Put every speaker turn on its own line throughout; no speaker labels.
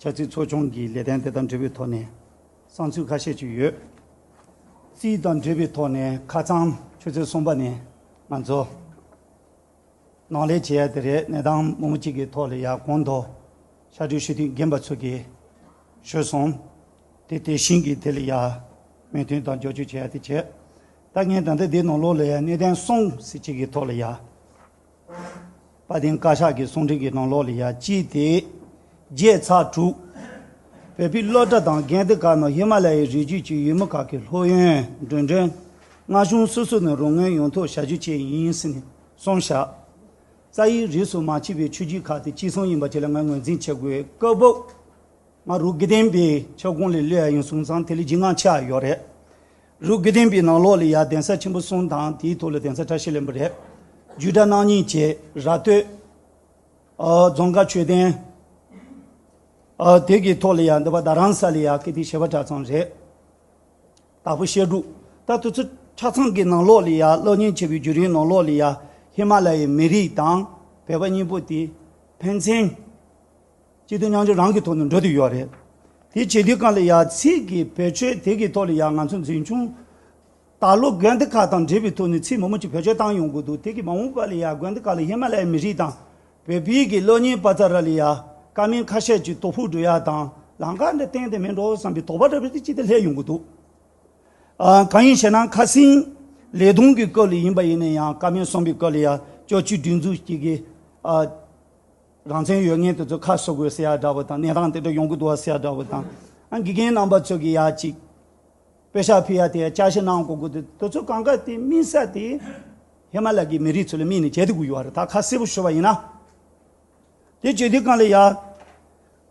ཆབ་སྲིད་ཚོགས་ཆུང་གི་ལས་དོན་དེ་དང་འབྲེལ་བའི་ཐོག་ནས་བསམ་ཚུལ་ཁ་ཤས་བརྗོད་ཡོད། སྲིད་དང་འབྲེལ་བའི་ཐོག་ནས་ཁ་ཚང་ཁྱོད་ཚོས་གསུངས་པ་ནས་ང་ཚོ་ནང་ལས་བྱེད་ཡ་དེ་རེད་གནས་སྟངས་མང་པོ་ཅིག་གི་ཐོག་ལ་ཡ་གོང་དུ་ཤར་བགྲོད་ཞུ་དུས་རྒན་པ་ཚོ་གིས་ཤོད་སོང། དེ་དེ་བཞིན་གྱི་དེ་ལ་ཡ་མོས་མཐུན་དང་འགྱོག་རྒྱུ་བྱེད་ཡ་དེ་བྱེད། ད་ངས་ད་ལྟ་འདི་ནང་ལོགས་ལ་ཡ་གནས་དེང་སོང་ཟིག་ཅིག་གི་ཐོག་ལ་ཡ། དཔའ་གདེང་བཀའ་ཤག་གི་གསུང་འཕྲིན་གྱི་ནང་ལོག་ལས་ཡ་ཅི་སྟེ། བརྒྱད་ཚ་དྲུག། བོད་པའི་སློབ་གྲྭ་དང་རྒན་སྡེ་ཁག་ནང་ཧི་མ་ལ་ཡའི་རི་རྒྱུད་ཀྱི་ཡུལ་མི་ཁག་གི་ལྷོད་གཡེང་མགྲོན་མགྲོན། མངའ་གཞུང་སོ་སོ་ནས་རོགས་དངུལ་ཡོང་ཐོག་བྱ་རྒྱུ་བཅས་ཡིན་ཟེར་ནས་གསུང་བཞག། རྩ་ཡིག་རིས་སུ་མ་མཆིས་པའི་ཆོས་བརྒྱུད་ཁག་དེ་གཅིག་མཚུངས་ཡིན་པ་དེ་ལ་ངས་ངོས་འཛིན་བྱེད་དགོས་སྐབས། ང་རུ་དགེ་ལྡན་པའི་ཁྱབ་ཁོངས་ལས་བསླུས་ཡ་ཡིན་གསུང་ཙང་དེ་ལས་ལྗིད་ངང་ཆགས་ཡོད་རེད། རུ་དགེ་ལྡན་པའི་ནང་ལོགས་ལ་ཡ་གདན་ས་ཆེན་པོ་གསུམ་དང་དེའི་ཐོག་ལ་གདན་ས་གྲྭ་ཤེས་ལེན་པ་རེ། རྒྱུད་གྲྭ་སྣང་གཉིས་བཅས་ར་སྟོད། རྫོང་དགའ་ཆོས་ལྡན། དེ་གི་ཐོག་ལ་ཡ་འདི་བ་ད་རང་ས་ལ་ཡ་ཀི་ཏི་ཞེས་པ་གྲྭ་ཚང་རེ། དྭགས་པོ་བཤད་སྒྲུབ། ད་དུ་ཚོད་གྲྭ་ཚང་གི་ནང་ལོགས་ལ་ཡ་གློག་བརྙན་འཁྱེར་བའི་བརྒྱུད་རིམ་ནང་ལོགས་ལ་ཡ་ཧི་མ་ལ་ཡའི་མི་རིགས་དང་བོད་པ་གཉིས་པོ་དེ་ཕན་ཚན། སྤྱི་དོན་མཉམ་སྦྱོར་རང་གི་ཐོག་ནས་འགྲོ་དུས་ཡོད་རེད། དེ་བྱེད་དུས་གང་ལ་ཡ་ཚིག་གི་བེད་སྤྱོད་དེ་གི་ཐོག་ལ་ཡ་ང་ཚོ་འཛིན་བྱུང། ད་ལོ་དགོན་སྡེ་ཁག་དང་འབྲེལ་བའི་ཐོག་ནས་ཚིག་མང་མོ་ཅིག་བེད་སྤྱོད་བཏང་ཡོང་གི་འདུག་དེ་གི་མ་འོངས་པ་ལ་ཡ་དགོན་སྡེ་ཁག་ལ་ཧི་མ་ལ་ཡའི་མི་རིགས་དང། བོད་པའི་གི་གློ་སྙིང་པ་ཙ་ར་ལ་ཡ། ཀ་མིང་ཁ་ཤས་ཀྱི་ཏོ་ཕུག་འགྲོ་ཡ་དང་ལང་ཀ་འདྲ་བསྟན་ཏེ་མི་འགྲོ་བསམ་པའི་དོགས་པ་འདྲ་བོ་དེ་ཅི་སྟེ་ལྷད་ཡོང་གི་འདུག། གང་ཡིན་ཞེ་ན་ཁ་སིང། ལེ་དུང་གི་སྐབས་ལ་ཡིན་པ་ཡིན་ན་ཡང་ཀ་མིང་གསུམ་པའི་སྐབས་ལ་ཡ་ཅོ་ཅི་སྒྲིག་འཛུགས་ཀྱི་གི། རང་བཙན་ཡོད་ངེས་དེ་ཚོ་ཁ་གསོ་དགོས་ཟེར་ཡག་འདྲ་བོ་དང་གནས་སྟངས་དེ་འདྲ་ཡོང་གི་འདུག་བ་ཟེར་ཡག་འདྲ་བོ་དང། དགེ་རྒན་རྣམ་པ་ཚོས་ཀྱི་ཡག་ཅིག། དཔེ་ཤག་ཕུལ་ཡག་དེ་ཡག་བསྐྱར་བཤད་གནང་གོ་དགོས་དེ་ཚོ་གང་དགའ་དེ་སྨིན་ས་དེ། ཧེ་མ་ལ་ཀྱི་མི་རིགས་ཚོ་ལ་སྨིན་ནས་བྱེད་དུ་དགོས་ཀྱི་བ་རེད་ད་ཁ་གསལ་པོ་ཤོད་པ་ཡིན་ན། དེ་བྱེད་དུས་གང་ལ་ཡག།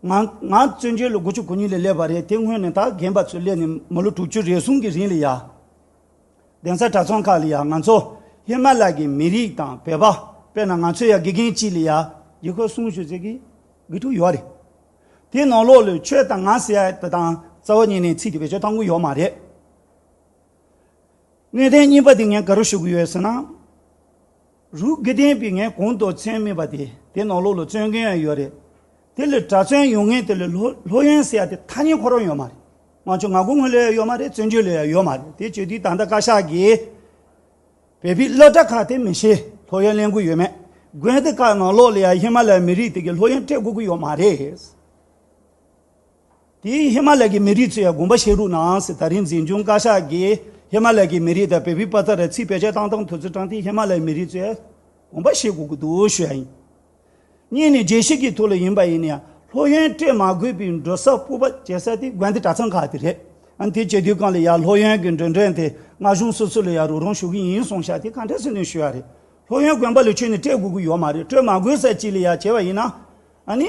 ང་ང་བཙོན་བྱོལ་ལོ་དགུ་བཅུ་གོ་གཉིས་ལ་སླེབས་པ་རེད་དེ་སྔོན་ནས་ད་རྒན་པ་ཚོ་སླེབས་ནས་མི་ལོ་དྲུག་ཅུ་རེ་ཟུང་གི་རིང་ལ་ཡག། གདན་ས་གྲྭ་ཚང་ཁག་ལ་ཡང་ང་ཚོ་ཧི་མ་ལ་གི་མི་རིགས་དང་བོད་པ་དཔེར་ན་ང་ཚོ་ཡང་དགེ་རྒན་གཅིག་ལ་ཡང་རྒྱལ་ཁབ་སྲུང་ཞུ་ཟེར་གི་དགེ་ཕྲུག་ཡོད་རེད། དེ་ནང་ལོགས་ལོས་ཆོས་དང་ང་ཟེར་ཡ་དེ་དང་རྩ་བ་ཉིད་ནས་ཚིག་དེ་བེད་སྤྱོད་གཏང་གི་ཡོད་མ་རེད། གནས་བརྟན་རྙིང་པ་དེ་ངས་ག་རུ་ཞུ་གི་ཡོད་ཟེར་ན། རུས་རྒྱུད་ལྡན་པའི་ངས་གོང་དུ་མཚན་སྨོས་པ་དེ་དེ་ནང་ལོགས་ལ་བརྩོན་མཁན་ཡང་ཡོད་རེད། དེ་ལས་གྲྭ་བཙུན་ཡོང་མཁན་དེ་ལས་ལྷོད་ཡོན་ཟེར་ཡ་དེ་ཐ་སྙད་ཁོ་རང་ཡོད་མ་རེད། ང་ཆུང་ང་གུ་ངོས་ལ་ཡང་ཡོད་མ་རེད་བཙན་བྱོལ་ལ་ཡང་ཡོད་མ་རེད་དེ་བྱེད་དུས་ད་ལྟ་བཀའ་ཤག་གིས་བོད་པའི་བླ་གྲྭ་ཁག་དེ་མི་ཤེས་ལྷོད་ཡོན་གླེང་གི་ཡོད་མེད་དགོན་དེ་ཁག་ནང་ལོགས་ལ་ཡང་ཧི་མ་ལ་ཡའི་མི་རིགས་དེ་གས་ལྷོད་ཡོན་སྤྲད་དགོས་ཀྱི་ཡོད་མ་རེད། དེའི་ཧི་མ་ལ་ཀྱི་མི་རིགས་ཚོས་དགོངས་པ་བཞེས་རུག་ནའང་སྲིད་ད་རིང་འཛིན་སྐྱོང་བཀའ་ཤག་གིས་ཧི་མ་ལ་ཀྱི་མི་རིགས་དང་བལ་བོའི་པ་ཙ་རལ་ཚིག་བེད་སྤྱོད་བཏང་སྟངས་ཐོས་ཚུལ་དྲངས་དེ་ཧི་མ་ལའི་མི་རིགས་ཚོས་དགོངས་པ་བཞེས་དགོས་ཀྱི་འདུག་ཞུ་ཡ་ཡིན། གཉིས་ནི་རྒྱལ་སྤྱི་གི་ཐོག་ལ་ཡིན་པ་ཡིན་ན་ཡང་ལྷོད་གཡེང་སྤྲད་མ་དགོས་པའི་འགྲོ་ས་སྤོབས་པ་བྱེད་ས་དེ་དགོན་སྡེ་གྲྭ་ཚང་ཁག་དེ་རེད། ཨང་དེ་བྱེད་དུས་གང་ལ་ཡང་ལྷོད་གཡེང་གི་འགྲོས་འདྲེན་དེ་སྔ་གཞུང་སོ་སོ་ལ་ཡང་རོགས་རམ་ཞུ་གི་ཡིན་སོང་ཤག་དེ་ག་འདྲ་སེམས་དོན་ཞུ་ཡ་རེད། ལྷོད་གཡེང་དགོན་པ་ལ་ཆོས་ནི་སྤྲད་དགོས་ཀྱི་ཡོད་མ་རེད་སྤྲོད་མ་དགོས་ས་གཅིག་ལ་ཡང་བྱས་པ་ཡིན་ན་ནི།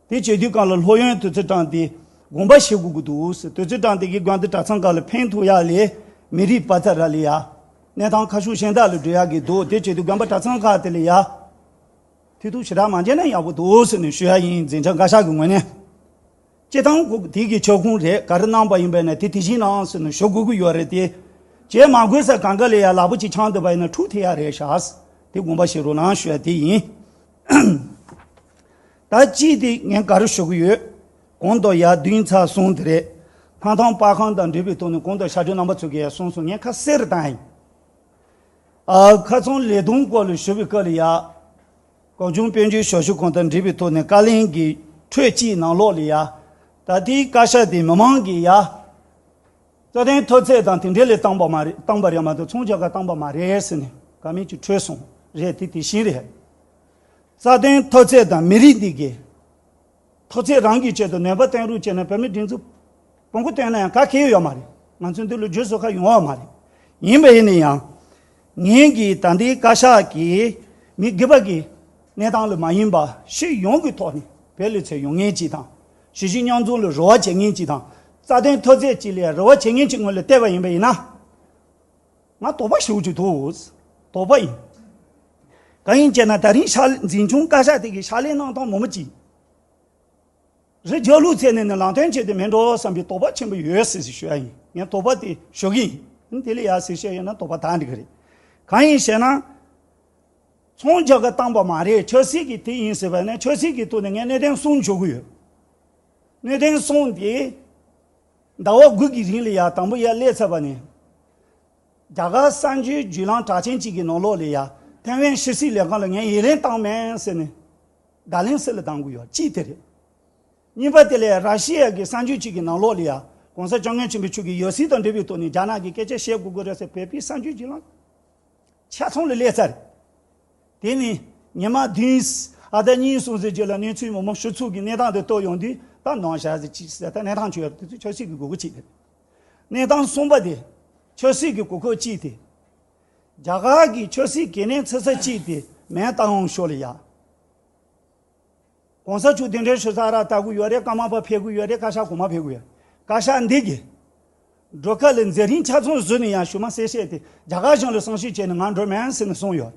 དེ་བྱེད་དུས་གང་ལ་ལྷོད་ཡོན་དུད་རྩི་བཀྲམ་སྟེ་དགོངས་པ་བཞེས་དགོས་ཀྱི་འདུག་ཟེར་དུད་རྩི་བཀྲམ་སྟེ་གི་སྒང་དུ་གྲྭ་ཚང་ག་ལ་ཕེང་ཐུག་ཡག་ལས་མི་རིགས་པ་ཚ་ར་ལས་ཡག་གནས་ཐང་ཁ་ཤུགས་ཞན་དག་ལ་བགྲོད་ཡག་གི་འདུག་དེ་བྱེད་དུས་སྒང་པ་གྲྭ་ཚང་ཁག་དེ་ལས་ཡག་མཐུད་ཐུག་ཞེ་དྲག་མ་བྱས་ན་ཡག་པོ་འདུག་ཟེར་ནས་ཞུ་ཡག་ཡིན་འཛིན་བྱང་བཀའ་ཤག་གི་ངོས་ནས་སྤྱི་བཏང་ཁུག་དེ་གི་ཕྱོགས་ཁུངས་རེད་ག་རེ་གནང་པ་ཡིན་པས་ན་དེ་དེ་བཞིན་གནང་ཟེར་ནས་ཞུ་དགོས་ཀྱི་ཡོད་རེད་དེ་བྱེད་མ་དགོས་ས་གང་ག་ལས་ཡག་ལག་པ་གཅིག་ཆང་དུད་པ་ཡིན་ན་ཕྲུག་དེ་ཡག་རེད་ཤག་དེ་དགོངས་པ་བཞེས་རོགས་གནང་ཞུ་ཡག་དེ་ཡིན། ད་ཅི་སྟེ་ངས་ག་རེ་ཞུ་གི་ཡོད། གོང་དུ་ཡར་བདུན་ཚར་གསུངས་དེ་རེད། ལྷ་ཐང་དཔའ་ཁང་དང་འབྲེལ་བའི་ཐོག་ནས་གོང་དུ་ཞབས་བྲོའི་རྣམ་པ་ཚུགས་གི་ཡ་གསུངས་སོང་ངས་ཁ་གསལ་རེ་བཏང་ཡིན། ཨ་ཁ་ཚང་ལས་དོན་སྐོར་ལ་ཞུ་བའི་སྐབས་ལ་ཡ། གངས་ལྗོངས་དཔལ་འབྱོར་ཞབས་ཞུ་ཁང་དང་འབྲེལ་བའི་ཐོག་ནས་བཀའ་ལན་གྱི་འཕྲོས་སྤྱིའི་ནང་ལོགས་ལ་ཡ། ད་ལྟའི་བཀའ་ཤག་དེ་མི་མང་གིས་ཡ། རྩ་དོན་མཐོ་ཚད་དང་དེ་འབྲེལ་ལས་བཏང་པ་མ་རེད་བཏང་པ་རེད་མ་གཏོགས་མཚུངས་ཆ་ག་བཏང་པ་མ་རེད་ཟེར་ནས་བཀའ་མོལ་གྱི་འཕྲོས་གསུངས་རེད་དེ་དེ་བཞིན་རེད། རྩ་དོན་མཐོ་ཚད་དང་མི་རིགས་འདི་དགེ། མཐོ་ཚད་རང་གི་ཆེད་དུ་ནད་པ་བསྟེན་རོགས་བྱས་ནས་བོད་མི་སྒྲིག་འཛུགས་བོང་གུ་བསྟེན་ན་ཡང་ག་གེ་ཡོད་མ་རེད་ང་ཚོའི་འདི་ལོ་རྒྱུས་བཟོ་ཁ་ཡོང་བ་མ་རེད་ཡིན་པ་ཡིན་ནས་ཡང་ངེད་ཀྱིས་ད་ལྟའི་བཀའ་ཤག་གི་མི་དགེ་བ་གི་གནས་སྟངས་ལ་མ་ཡིན་པ་ཕྱི་ཡོང་གི་ཐོག་ནས་བེད་ལུས་ཚད་ཡོང་ངེས་ཅིག་དང་གཞི་གཞི་རྙོག་འཛུང་ལ་རོལ་བ་བྱེད་ངེས་ཅིག་དང་རྩ་དོན་མཐོ་ཚད་ཅིག་ལས་རོལ་བ་བྱེད་ངེས་ཅིག་ངོས་ལ་བལྟས་པ་ཡིན་པ་ཡིན་ན། ང་དོག་པ་ཞུ་རྒྱུ་འདུག་དོག་པ་ཡིན། གང་ཡིན་ཅེ་ན་ད་རིང་ཕྱག་ལས་འཛིན་སྐྱོང་བཀའ་ཤག་དེ་གའི་ཕྱག་ལས་གནང་སྟངས་མོ་མི་གཅིག་རེད་རྒྱ་ལུགས་ཚད་ནས་ནི་ལངས་སྟོན་བྱས་ཏེ་མི་འགྲོ་བསམ་པའི་དོག་པ་ཆེན་པོ་ཡོད་ཟེར་ཟེར་ཞུ་ཡ་ཡིན་ངས་དོག་པ་དེ་ཞུ་གི་ཡིན་དེ་ལས་ཡག་ཟེར་བཤད་ཡོད་ན་དོག་པ་དག་འགྲིག་གི་རེད་གང་ཡིན་ཞེ་ན། ཚོང་རྒྱག་གི་བཏང་པ་མ་རེད་ཆོས་སྲིད་ཀྱི་དེ་ཡིན་ཟེར་བ་ནི་ཆོས་སྲིད་ཀྱི་ཐུགས་ནས་ངས་གནས་བརྟན་གསུང་ཞུ་གི་ཡོད་གནས་བརྟན་གསུང་དེ་ཟླ་བ་དགུ་གི་རིང་ལས་ཡག་དང་པོ་ཡར་སླེབས་ཚར་བ་ནི། རྒྱ་གར་གསར་འགྱུར་བརྒྱུད་ལམ་གྲགས་ཅན་གཅིག་གི་ནང་ལོགས་ལས་ཡག་ཐེ་ཝན་ཕྱི་སྲིད་ལས་ཁང་ལ་ངས་ཡི་རེངས་བཏང་མེད་ཟེར་ནས་བརྡ་ལན་སི་ལ་གདང་དགོས་ཡོད་ཅིག་དེ་རེད། གཉིས་པ་དེ་ལས་ར་ཤི་ཡ་གི་གསར་འགྱུར་གཅིག་གི་ནང་ལོགས་ལས་ཡག་གོང་ས་སྤྱོ་ངན་ཆེན་པོའི་ཆོས་ཀྱི་ཡོད་སྲིད་དང་འབྲེལ་བའི་ཐོག་ནས་རྒྱ་ནག་གི་སྐད་ཆ་བཤད་དགོས་དགོས་རེད་ཟེར་བོད་པའི་གསར་འགྱུར་བརྒྱུད་ལམ། ཆ་ཚང་ལ་ལས་ཚར། དེ་ནས་ཉི་མ་བདུན་ཨ་ཟླ་གཉིས་སོང་ཟེར་རྗེས་ལ་གནས་ཚུལ་མང་པོ་ཞུ་ཚུལ་གྱི་གནས་སྟངས་དེ་རྟོགས་ཡོང་དུས་ད་ནང་བཞག་ཟེར་ཅི་ཟེར་ད་གནས་སྟངས་ཆོས་དེ་ཚོ་ཆོས་སྲིད་ཀྱི་དགོས་མཁོ་ཅི་དེ། གནས་སྟངས་གསུམ་པ་དེ་ཆོས་སྲིད་ཀྱི་དགོས་མཁོ་ཅི་དེ། རྒྱ་གར་གྱི་ཆོས་སྲིད་གལ་གནད་ཚུད་ས་ཅི་དེ་མེད་བལྟ་འོང་ཤོག་ལ་ཡག། གོང་ས་ཆུ་ལྡིང་འདྲེན་ཞུ་ས་ར་ལྟ་གུ་ཡོད་རེད་ཀ་མ་པ་ཕེ་གུ་ཡོད་རེད་བཀའ་ཤག་གོང་མ་ཕེ་གུ་ཡོད་བཀའ་ཤག་འདི་གི། སྒྲོལ་དཀར་ལས་མཛད་རིང་ཆ་ཚང་བཟོས་ནས་ཡང་ཞུ་མ་གསལ་བཤད་དེ་རྒྱ་གར་གཞུང་ལ་གསང་ཞུ་བྱས་ནས་ང་འགྲོ་མེན་ཟེར་ནས་གསུངས་ཡོད་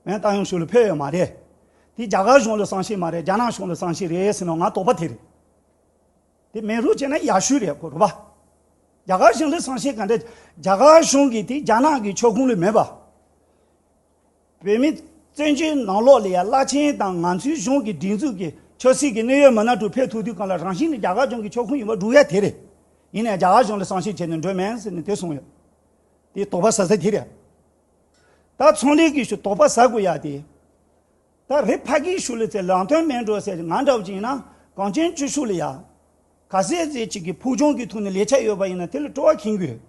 མེན་ཏང་ཡོངས་ཞུ་ལ་ཕེབས་ཡོད་མ་རེད་དེ་རྒྱ་གར་གཞུང་ལ་གསང་ཤེས་མ་རེད་རྒྱ་ནག་གཞུང་ལ་གསང་ཤེས་རེད་ཟེར་ནོ་ང་དོགས་པ་དེ་རེད་དེ་མེན་རུ་བྱས་ན་ཡག་ཤོས་རེད་གོ་རུ་བ་རྒྱ་གར་གཞུང་ལ་གསང་ཤེས་ག་འདྲ་རྒྱ་གར་གཞུང་གི་དེ་རྒྱ་ནག་གི་ཕྱོགས་ཁུང་ལ་མེད་པ། བོད་མི་བཙན་བྱོལ་ནང་ལོགས་ལ་ཡ་བླ་ཆེན་དང་ང་ཚོའི་གཞུང་གི་སྒྲིག་འཛུགས་ཀྱི་ཆོས་སྲིད་ཀྱི་གནད་ཡོད་མི་སྣ་དྲུག་ཕེབས་ཐུག་དུས་གང་ལ་རང་བཞིན་གྱི་རྒྱ་གར་གཞུང་གི་ཕྱོགས་ཁོངས་ཡིན་པ་སྒྲུག་ཡ་དེ་རེད། ཡིན་ནའང་རྒྱ་གར་གཞུང་ལ་བསམ་ཤེས་བྱས་ནས་འགྲོ་མེད་ཟེར་ནས་དེ་གསུངས་ཡོད། དེའི་དོགས་པ་ཟ་ས་དེ་རེད། ད་ཚོང་ལས་ཀྱི་ཞུ་དོགས་པ་ཟ་དགོས་ཡ་དེ། ད་རེ་ཕ་གིའི་ཞུ་ལས་ཚེ་རང་དོན་མེད་འགྲོ་ཟེར་ང་འདྲ་བོ་ཅིག་ཡིན་ན་གངས་ཅན་ཆུ་ཤུགས་ལ་ཡ། ག་ཟེ་ཟེ་ཅིག་གིས་ཕུགས་རྒྱང་གི་ཐུགས་ནས་ལས་ཆ་ཡོད་པ་ཡིན་ན་དེ་ལ་སྤྲོ་བ་ཁེངས་དགོས།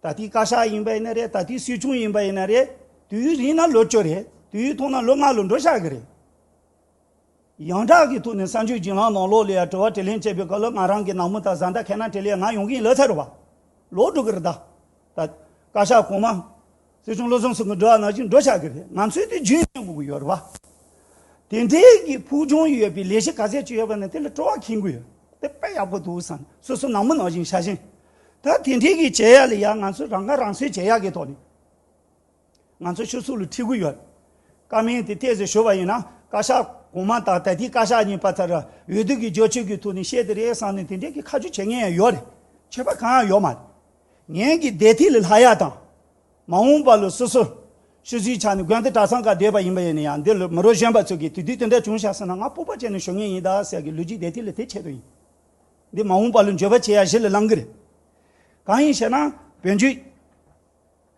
ད་ལྟའི་བཀའ་ཤག་ཡིན་པ་ཡིན་ན་རེད་ད་ལྟའི་སྲིད་སྐྱོང་ཡིན་པ་ཡིན་ན་རེད། དུས་ཡུན་རིང་ན་ལོ་བཅུ་རེད། དུས་ཡུན་ཐུང་ན་ལོ་ལྔ་ལོ་འགྲོ་ཤག་གི་རེད། ཡང་དག་གི་ཐོག་ནས་གསར་འགྱུར་བརྒྱུད་ལམ་ནང་ལོགས་ལས་ཡ་དྲི་བ་དྲི་ལན་བྱེད་པའི་སྐབས་ལ་ང་རང་གི་ནང་མི་དང་བཟའ་ཟླ་ཁས་ན་དྲི་ལན་ང་ཡོང་གིན་ལོས་ཚར་བ། ལོག་འགྲོ་གི་རེད་ད། བཀའ་ཤག་གོང་མ། སྲིད་སྐྱོང་བློ་བཟང་སེང་གེ་འགྲོ་བ་ན་བཞིན་འགྲོ་ཆགས་ཀྱི་རེད་ང་ཚོས་དེ་རྒྱུན་བསྐྱངས་དགོས་ཀྱི་ཡོད་རེད་བ། དེ་འབྲེལ་གྱི་ཕུགས་རྒྱང་ཡོད་པའི་ལས་གཞི་ག་ཚད་ཅིག་ཡོད་པ་ནི་དེ་ལ་སྤྲོ་བ་ཁེངས་གི་ཡོད་དེ་དཔེ་ཡག་པོ་འདུག་བསམ་སོ་སོ་ནང་མི་ནང་བཞིན་བྱ་བཞིན་ད་དེ་འབྲེལ་གྱི་བྱེད་ཡག་ལས་ཡག་ང་ཚོས་རང་ཁ་རང་གསོས་བྱེད་ཡག་གི་ཐོག་ནས་ང་ཚོ་ཆུ་ཚོད་ལ་ཁྲིད་གི་ཡོད། བཀའ་མིང་དེ་གཏད་ཟེར་ཞུ་བ་ཡིན་ན་བཀའ་ཤག་གོང་མ་དང་ད་ལྟའི་བཀའ་ཤག་གཉིས་པ་དེར་འོས་བསྡུ་གྱི་རྒྱོ་ཆོས་ཀྱི་ཐོག་ནས་བཤད་དེ་རེད་བསམ་ནས་དེ་འབྲེལ་གྱི་ཁ་མཆུ་བྱེད་ངེས་ཡོད་རེད་ཆད་པ་གང་ཡང་ཡོད་མ་རེད། ངན་གྱི་སྡེ་ཐིག་ལེ་ལྷ་ཡག་དང། མ་འོངས་པ་ལོ་སོ་སོ། ཤུལ་བཞིའི་ཆ་ནི་དགོན་དེ་གྲྭ་ཚང་ཀ་སྡོད་པ་ཡིན་པ་ཡིན་ན་ཡང་འདིར་ལོ་མི་རོ་གཞོན་པ་ཚོས་ཀྱིས་དུས་དུས་དེ་འདྲ་བྱུང་བཞག་ཟེར་ན་ང་སྤོབས་པ་བྱས་ནས་ཞོག་ངེས་ཡིན་ད་ཟེར་གི་ལུས་ཀྱི་སྡེ་ཐིག་ལེ་དེ་ཆེད་དུ་ཡིན། འདི་མ་འོངས་པ་ལོ་འགྱོད་པ་བྱེད་ཡ་གཞི་ལ་བླང་གི་རེད། གང་ཡིན་ཞེ་ན་བོན་རྒྱུད།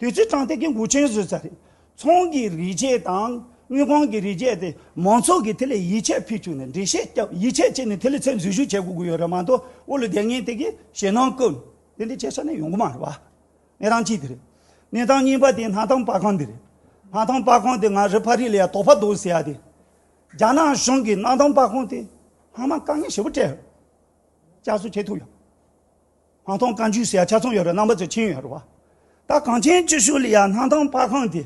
དུས་ཚོད་གྲངས་ཐེག་གི་འགུལ་ཆེན་བཟོས་ཚར་རེད། ཚོང་གི་རིགས་ཆད་དང་དངུལ་ཁང་གི་རིགས་ཆད་དེ་མང་ཚོགས་ཀྱིས་དེ་ལ་ཡིད་ཆེས་ཕུལ་བཅུག་ནས་འགྲེལ་བཤད་བརྒྱབ་ཡིད་ཆེས་བྱས་ནས་དེ་ལ་ཚད་འཛུལ་ཞུ་བྱེད་དགོས་ཀྱི་ཡོད་རེད་མ་གཏོགས་དབུ་ལ་དེ་ངས་དེ་གི་ཞེད་སྣང་བསྐུར་ནས་དེ་འདི་བྱས་ས་ནས་ཡོང་གི་མ་རེད་བ། གནས་སྟངས་གཅིག་དེ་རེད། གནས་སྟངས་གཉིས་པ་དེ་སྣ་ཐང་དཔའ་ཁང་འདི་རེད། སྣ་ཐང་དཔའ་ཁང་དེ་ང་རི་ཕ་རི་ལ་ཡང་དོག་པ་འདུག་ཟེར་ཡ་དེ། རྒྱ་ནག་གཞུང་གིས་སྣ་ཐང་དཔའ་ཁང་དེ་ལྷག་མ་དཀའ་ངལ་ཞེ་པོ་སྤྲད་ཡོད་རེད། བསྐྱར་གསོ་བྱེད་ཐུབ་ཡོད། སྣང་སྟོང་བཀའ་འགྱུར་ཟེར་ཡ་ཆ་ཚང་ཡོད་རེད་རྣམ་པ་ཚོས་མཁྱེན་ཡོད་རེད་བ། ད་གངས་ཅན་སྐྱིད་ཤོད་ལི་ཡ་སྣང་སྟོང་དཔར་ཁང་དེ།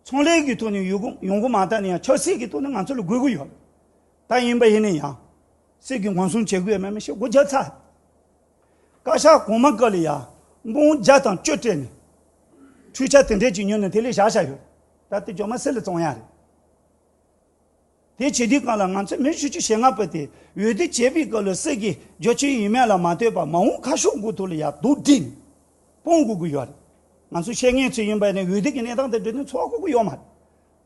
ཚོང་ལས་ཀྱི་ཐོག་ནས་ཡོད་གི་ཡོང་གི་མ་ད་ནི་ཡང་ཆབ་སྲིད་ཀྱི་ཐོག་ནས་ང་ཚོ་ལ་དགོས་ཀྱི་ཡོད་རེད། ད་ཡིན་པ་ཡིན་ནས་ཡང། སྲིད་ཀྱི་ངོ་སྲུང་བྱེད་དགོས་ཡོད་མེད་མི་ཤེས་སྒོ་རྒྱབ་ཚར། བཀའ་ཤག་གོང་མ་ཀ་ལི་ཡ་དགོངས་བརྒྱ་དང་བཅོ་སྤྲད་ནས། འཕྲུལ་ཆ་དེ་འདྲས་ཀྱིས་ཉོས་ནས་དེ་ལས་བཞག་བཞག་ཡོད་རེད། ད་དེ་ཇོ་མ་སེར་ལ་བཙོང་ཡ་རེད། དེ་བྱས་དུས་གང་ལ་ང་ཚོས་མེར་བསྲེགས་ཀྱི་ཞེ་ངར་ཕུལ་ཏེ་འོས་བསྡུ་བྱས་པའི་སྐབས་ལ་སྲིད་ཀྱི་རྒྱུ་ཆའི་ཡུལ་མེད་ལ་མ་ལྟོས་པར་མ་འོངས་ཁ་ཕྱོགས་དགོས་ཐོག་ལ་ཡར་ལྡོག་བསྒྲིལ་ནས་སྤོང་དགོས་ཀྱི་ཡོད་རེད། ང་ཚོས་བཤད་མཁན་ཚོས་ཡིན་པ་ནས་འོས་བསྡུ་གྱི་གནས་སྟངས་དེ་འབྲི་དོན་འཚོལ་བ་ཁོག་པོ་ཡོད་མ་རེད།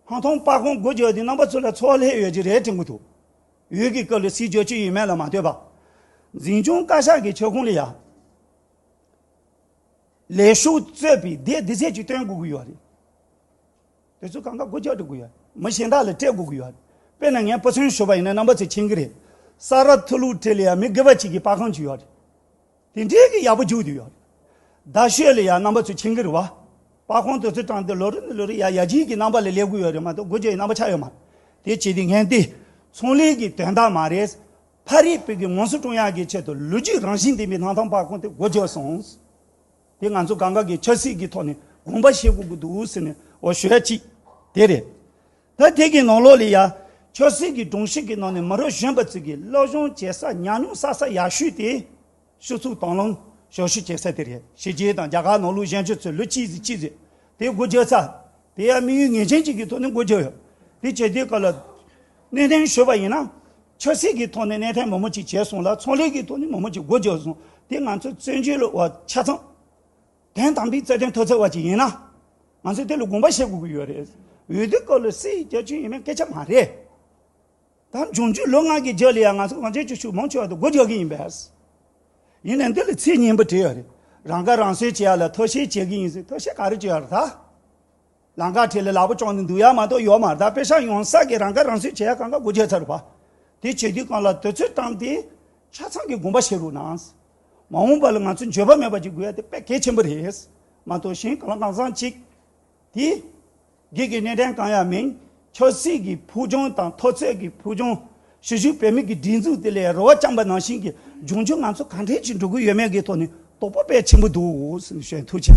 ཧང་ཐང་སྤ་གོང་དགོད་བརྒྱབ་སྟེ་རྣམ་པ་ཚོ་ལ་ཚོགས་ལྷད་ཡོད་ཀྱི་རེད་དྲན་གི་འདུག་འོས་ཀྱི་སྐབས་ལ་སྲིད་རྒྱུ་ཆའི་ཡུལ་མེད་ལ་མ་ལྟོས་པར་འཛིན་སྐྱོང་བཀའ་ཤག་གི་ཁྱབ་ཁོངས་ལ་ཡར་ལས་ཤུགས་རྩོད་པའི་འདས་འདི་ཟེར་གྱི་སྟོན་དགོས་ཀྱི་ཡོད་རེད། དེ་ཚོས་གང་ག་སྒོ་རྒྱག་འགྲོ་གི་ཡོད། མི་གཞན་དག་ལ་སྤྲད་དགོས་ཀྱི་ཡོད། དཔེར་ན་ངས་སྤུ་ཚོན་ཞོ་བ་ཡིན་ན་རྣམ་པ་ཚོས་མཁྱེན་གྱི་རེད། ས་རཱ་ཐུ་ལུའུ་ཏྲེ་ལི་ཡར་མི་དགེ་བ་གཅིག་གི་པར་ཁང་ཅིག་ཡོད་རེད། དེ་འདྲའི་གི་ཡག་པོ་རྒྱུག་དུས་ཡོད་རེད། རྡ་ཤོད་ལ་ཡར་རྣམ་པ་ཚོས་མཁྱེན་གྱི་རེད་བ། པར་ཁང་དེ་ཚོས་དྲངས་ཏེ་ལོ་རེ་ནས་ལོ་རེ་ཡར་ཡར་རྒྱས་ཀྱི་རྣམ་པ་ལ་སླེབས་གི་ཡོད་རེད་མ་གཏོགས་སྒོ་རྒྱག་ཡི་རྣམ་པ་ཆགས་ཡོད་མ་རེད། དེ་བྱས་དུས་ངན་ཏེ། ཚོང་ལས་ཀྱི་དོན་དག་མ་རེད། ཕ་རིའི་བོད་ཀྱི་ངོ་སོ་བཀྲོངས་ཡག་གི་ཆེད་དུ་ལོ་རྒྱུས་རང་བཞིན་ལྡན་པའི་ནང་ཐང་པར་ཁང་དེ་སྒོ་རྒྱག་སོང། དེ་ང་ཚོ་གང་གཱ་གི་ཆབ་སྲིད་ཀྱི་ཐོག་ནས་དགོངས་པ་བཞེས་དགོས་ཀྱི་འདུག་ཟེར་ནས་འོ་ཞོད་ཡ་གཅིག་དེ་རེད། ད་དེ་གི་ནང་ལོགས་ལས་ཡ། ཆོས་སྲིད་ཀྱི་སྒྲུང་གཤིས་ཀྱི་ནང་ནས་མི་རོ་གཞོན་པ་ཚོས་ཀྱི་སློབ་སྦྱོང་བྱེད་ས་ཉམས་མྱོང་བསགས་ས་ཡག་ཤོས་དེ། ཤུགས་ཚུགས་དང་ལོངས་ཞོ་ཤུགས་བྱེད་ས་དེ་རེད་ཞེས་རྒྱའི་དང་རྒྱ་གར་ནང་ལུགས་གཞན་ཆོས་ཚོས་ལོ་གཅིག་ཟིན་གཅིག་ཟིན་དེ་སྒོ་རྒྱབ་ས། དེ་ཡ་དམིགས་ཡུལ་ངེས་ཅན་ཅིག་གི་ཐོག་ནས་སྒོ་རྒྱབ་ཡོད། དེ་བྱས་དེའི་སྐབས་ལ། གནས་ཐན་ཞུས་པ་ཡིན་ན། ཆོས་སྲིད་ཀྱི་ཐོག་ནས་གནས་ཐན་མང་པོ་ཅིག་བྱས་སོང་ལ་ཚོང་ལས་ཀྱི་ཐོག་ནས་མང་པོ་ཅིག་སྒོ་རྒྱག་སོང། དེ་ང་ཚོའི་བཙན་བྱོལ་བ་ཆ་ཚང། དོན་དམ་པའི་བརྩེ་དུང་མཐོ་ཚད་བ་ཅིག་ཡིན་ན། ང་ཚོས་དེ་ལ་དགོངས་པ་བཞེས་དགོས་ཀྱི་ཡོད་རེད། འོས་བསྡུ་སྐབས་ལ་སྲིད་རྒྱལ་ཅུང་ཡིན་མིན་སྐད་ཆ་མ་རེད། ད་འབྱུང་འགྱུར་ལོ་ལྔ་གི་རྗེས་ལ་ཡང་ང་ཚོ་གངས་ཅན་ཀྱི་ཕྱུག་མང་ཆེ་བ་དང་སྒོ་རྒྱག་གི་ཡིན་པས། ཡིན་ནའི་འདི་ལ་ཚིག་སྙན་པོ་བྲིས་ཡོད་རེད། རང་ཁ་རང་གསོའི་བྱེད་ཡ་ལ་མཐོ་བཤད་བྱེད་ཀྱི་ཡིན་ཟེར་མཐོ་བཤད་ག་རེ་བྱེད་ཡ་རེད་ད། ལང་ཀ་ཁྲི་ལ་ལག་པ་བཅོམ་ནས་འདུག་ཡ་མ་གཏོགས་ཡོག་མ་གདའ་དཔེ་ཤག་ཡོང་ས་གི་རང་ཁ་རང་གསོས་བྱེད་ཡ་གང་ག་སྒོ་འབྱེད་ཚར་རུ་བ། དེ་བྱེད་དུས་གང་ལ་དུས་ཚོད་བཏང་སྟེ་ཆ་ཚང་གི་དགོངས་པ་བཞེས་རུ་གནང། མ་འོངས་པ་ལ་ང་ཚོས་འགྱོད་པ་མེད་པ་ཅིག་དགོས་ཡ་དེ་དཔེ་གལ་ཆེན་པོ་རེད། མ་གཏོགས་གཞན་གང་ལ་གང་བཟང་ཅིག་དེ། སྒེར་གྱི་གནས་དྲན་གང་ཡང་མིན། ཆབ་སྲིད་ཀྱི་ཕུགས་རྒྱང་དང་མཐོ་ཚད་ཀྱི་ཕུགས་རྒྱང། ཕྱི་བཞུགས་བོད་མི་གི་སྒྲིག་འཛུགས་དེ་ལས་རོལ་བ་རྐྱང་པ་ནང་བཞིན་གྱི་འབྱུང་འགྱུར་ང་ཚོ་གང་འདྲའི་ཅིག་འགྲོ་གི་ཡོད་མེད་ཀྱི་ཐོག་ནས་དོགས་པ་དཔེ་ཆེན་པོ་འདུག་ཟེར་ནས་བཤད་ཐུགས་ཆེ།